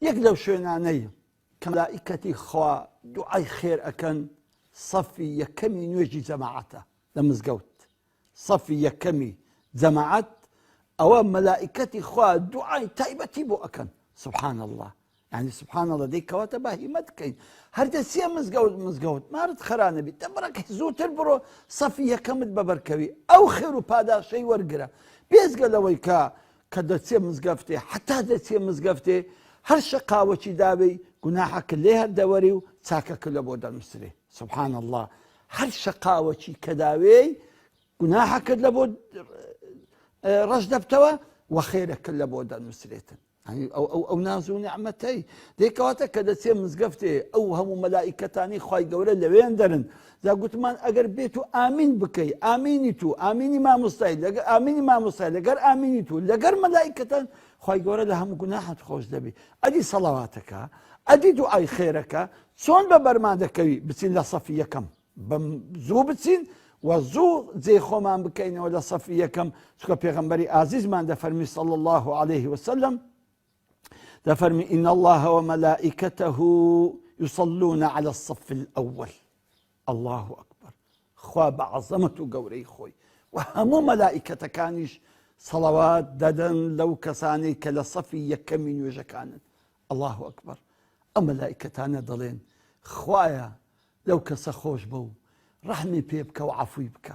یەک لەو شوێنانەی کە مەلائیکەتی خوا دوعای خێر ئەکەن سەفی یەکەمی نوێژی جەماعەتە لە مزگەوت سەفی یەکەمی جەماعەت ئەوە مەلائیکەتی خوا دوعای تایبەتی بۆ ئەکەن سبحان الله ینی سبحان الله دەی کەواتە بە هیمەت بکەین هەردەسیە مزگەوت مزگەوت مارت خرانەبی تەبڕک زووتر بڕۆ سەفی یەکەمت بەبەرکەوی ئەو خێر و پاداشەی وەرگرە بێزگە لەوەی کە کە دەچێ مزگەفتێ حەتا دەچێ مزگەفتێ هەر شەقاوەکی داوێی گوناحەکە لێ هەر دەوەری و چاکەکە لە بۆ دەنووسرێ سبحان اللە هەر شەقاوەکی کە داوێی گوناحەکەت لە بۆ ڕەش دەبتەوە و خێرەکە لە بۆ دەنووسرێتن ئەو نازو نعممەتەی دێکەواتە کە دەچێ مزگەفتێ ئەو هەموو مەلایکەتانی خی گەورە لەوێن دەرن جا گوتمان ئەگەر بێت و ئامین بکەی ئامینی تو ئامینی مامۆستای لەگە ئامینی مامۆستای لەگەر ئامینی تو لەگەر مەلائیکەتان خوای گەورە لە هەموو گوناحت خۆش دەبی ئەدی سەڵەواتەکە ئەدی دوعای خێرەکە چۆن بە بەرمان دەکەوی بچین لە سەفی یەکەم بەم زوو بچین و زوو جێ خۆمان بکەینەوە لە سەفی یەکەم چکە پێغمبەری ئازیزمان دەفەرمی صلی الله عليه وسلم دەفەرمی ان اللە و ملائکته یصلون علی الصف الاول اللە اکبر خوا بە عەزەمەت و گەورەی خۆی و هەموو مەلائیکەتەکانیش سەڵەوات دەدەن لەو کەسانی کە لە سەفی یەکەمی نوێژەکانن اللە اکبر ئەم مەلائیکەتانە دەڵێن خوایە لەو کەسە خۆش بە و ڕەحمی پێ بکە و عفوی بکە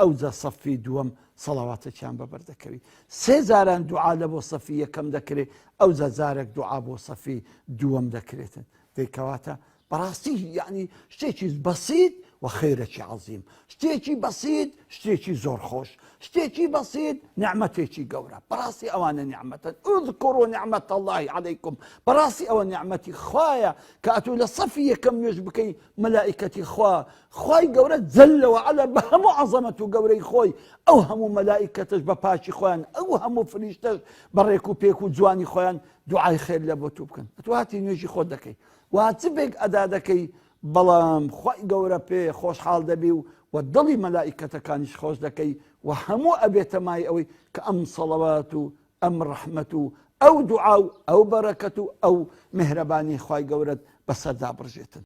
ئەوجا سەفی دووەم سەڵاواتەکیان بەبەر دەکەوی سێ جاران دوعا لە بۆ سەفی یەکەم دەکرێ ئەوجا جارێک دوعا بۆ سەفی دووەم دەکرێتن دەیکەواتە بەڕاستی یعنی شتێکی بەسیت و خێرەکی عظیم شتێکی بەسیت شتێکی زۆر خۆش شتێکی بەسیت نعممەتێکی گەورە بەڕاستی ئەوانە نعممەتەن ئۆذکۆڕ و نعممەت اللهی عەیکم بەڕاستی ئەوە نعممەتی خوایە کە ئەتوو لە سەفی یەکەم نوێژ بکەی مەلائکەتی خوا خوای گەورە جل وعلا بە هەموو عەزەمەت و گەورەی خۆی ئەو هەموو مەلائیکەتەش بە پاکی خۆیان ئەو هەموو فریشتەش بە ڕێک و پێک و جوانی خۆیان دوعای خێر لە بۆ تو بکەن ئەتو هاتی نوێژی خۆت دەکەی وا چ بێک ئەدا دەکەی بەڵام خوای گەورە پێ خۆشحاڵ دەبی و و دڵی مەلائیکەتەکانیش خۆش دەکەی و هەموو ئەبێتە مای ئەوەی کە ئەم سەڵەوات و ئەم ڕەحمەت و ئەو دوعا و ئەو بەرەکەت و ئەو مهرەبانی خوای گەورەت بەسەردا بڕژێتن